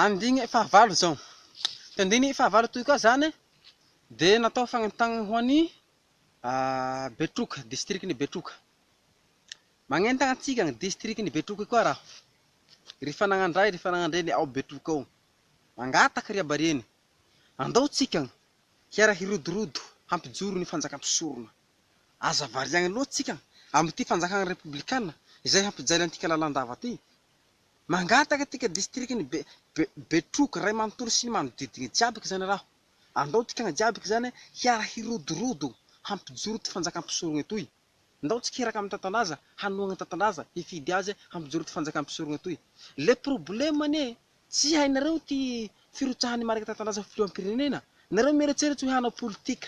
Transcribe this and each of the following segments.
Andiny fahavalo izao. Ity andiny fahavalo ity koa izany dia natao fagnentanana ho an'ny Betroka, distrikan'i Betroka. Magnentana antsika ny distrikan'i Betroka koa raha. Ry fananan-dray, ry fananan-dreny ao Betroka ao. Mangataka ry habareny. Andao tsika hiara hirodorodo hampijoro ny fanjaka mpisorona. Aza variagny loatra tsika amin'ity fanjakana repoblikana izay hampijaly antika lalandava ity. Mangataka tika distrikan'i Betroka ray manontolo sy ny manodidina jiaby ka zany raho. Andao tikagna jiaby ka zany hiara hirodorodo hampijoro ity fanjaka mpisorogna etoy. Ndao tsika hiraka amin'ny tantandraza hanohagna ny tantandraza hifidy azy hampijoro ity fanjaka mpisorogna etoy. Le problème anie tsy hainareo ty firotsahan'ny marika tantandraza filoham-pirenena. Nareo mieretseretsy hoe hanao politika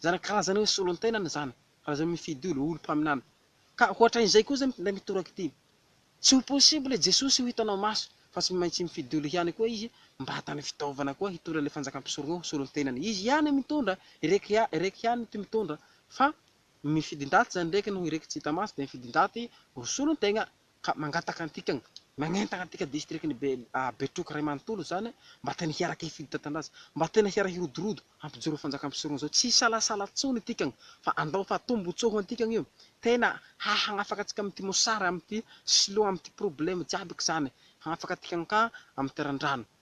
Izany karazana hoe solon-tenana izany, raha izay mifidy olo, olo mpaminany. Ka hoatran'izay koa izay mpinday mitoraka ity. Tsy ho possible Jesosy ho hitanao maso, fa tsy maintsy mifidy olo ihany koa izy mba hatany fitaovana koa hitondra ilay fanjakam-pisorogna ho solon-tenany. Izy ihany mitondra, irek, irek ihany ty mitondra, fa mifidin-daty izany irek, noho irek tsy hita maso dia mifidin-daty ho solon-tegna. ka mangataka antika nanentana antika distrikan'i Betroka iray manontolo izany mba tena hiaraka hifidy tantandraza, mba tena hiaraka hirodorodo hampijoro fanjaka mpisorona izao, tsy hisalasala intsony antika fa andao fa tombotsoa ho antika io, tena hahagnafaka antsika amin'ity mosary, amin'ity siloa, amin'ity probleme jiaby ka izany, hagnafaka antika ka amin'ny teran-drano.